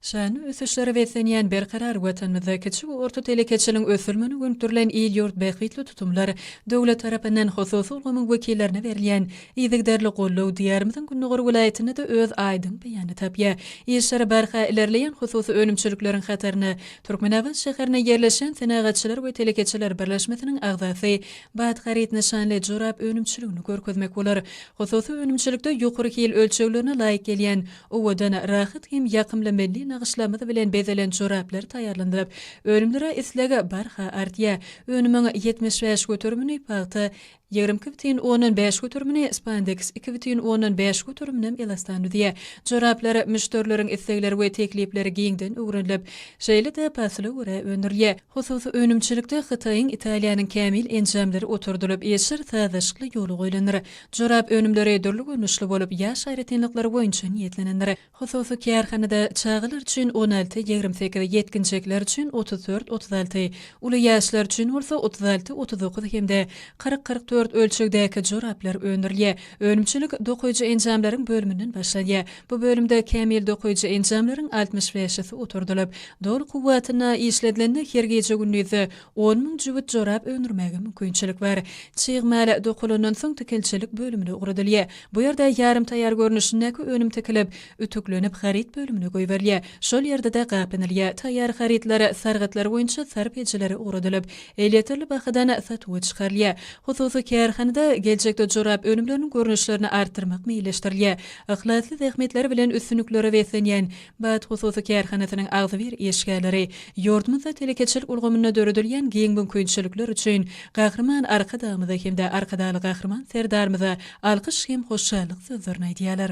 Şanly ösüşlere beslenýän berkarar Watanymyzda kiçi we orta telekeçiligiň ösdürilmegine gönükdirilen il-ýurt bähbitli tutumlar, döwlet tarapyndan hususy ulgamyň wekillerine berilýän yzygiderli goldaw Diýarymyzyň gündogar welaýatynda-da öz aýdyň beýanyny tapýar. Işleri barha ilerleýän hususy önümçilikleriň hataryna Türkmenabat şäherinde ýerleşýän Senagatçylar we telekeçiler birleşmesiniň agzasy Bat haryt nyşanly jorap önümçiligini görkezmek bolar. Hususy önümçilikde ýokary hil ölçeglerine laýyk gelýän Owadan, rahat hem ýakymly milli nagyşlarymyz bilen bezelen joraplar taýýarlanyp, önümlere isleg barha artýar. Önümiň ýetmiş bäş göterimini pagta, ýigrimi iki bütin ondan bäş göterimini spandeks, iki bütin ondan bäş göteriminem elastan düzýär. Joraplar müşderileriň islegleri we teklipleri giňden öwrenilip, şeýle-de pasla görä öndürilýär. Hususy önümçilikde Hytaýyň, Italiýanyň kämil enjamlary oturdylyp, işler sazlaşykly ýola goýlandyr. Jorap önümleri dürli görnüşli bolup, ýaş aýratynlyklary boýunça niýetlenendir. Hususy kärhanada çagalar üçin on alty, ýigrimi sekiz, ýetginjekler üçin otuz dört, otuz alty, uly ýaşlar üçin bolsa otuz alty, otuz dokuz hem-de kyrk, kyrk dört ölçegdäki joraplar öndürilýär. Önümçilik dokaýjy enjamlaryň bölüminden başlanýar. Bu bölümde kämil dokaýjy enjamlaryň altmyş bäşisi oturdylyp, doly kuwwatyna işledilende her gije-gündiz On müň jübüt jorap öndürmäge mümkinçilik bar. Çyg mal dokulandan soň tikinçilik bölümine ugradylýar. Bu ýerde ýarym taýýar görnüşindäki önüm tikilip, ütüklenip haryt bölümine goýberilýär. Şol ýerde-de gaplanylýar. Taýýar harytlar sargytlar boýunça sarp edijilere ugradylyp, elýeterli bahadan satuwa çykarylýar. Hususy kärhanada geljekde jorap önümleriniň görnüşlerini artdyrmak meýilleşdirilýär. Yhlasly zähmetleri bilen üstünliklere beslenýän BAT hususy kärhanasynyň agzybir işgärleri ýurdumyzda telekeçilik ulgamynda döredilýän giň mümkinçilikler üçin Gahryman Arkadagymyza hem-de Arkadagly Gahryman Serdarymyza alkyş hem hoşallyk sözlerini aýdýarlar.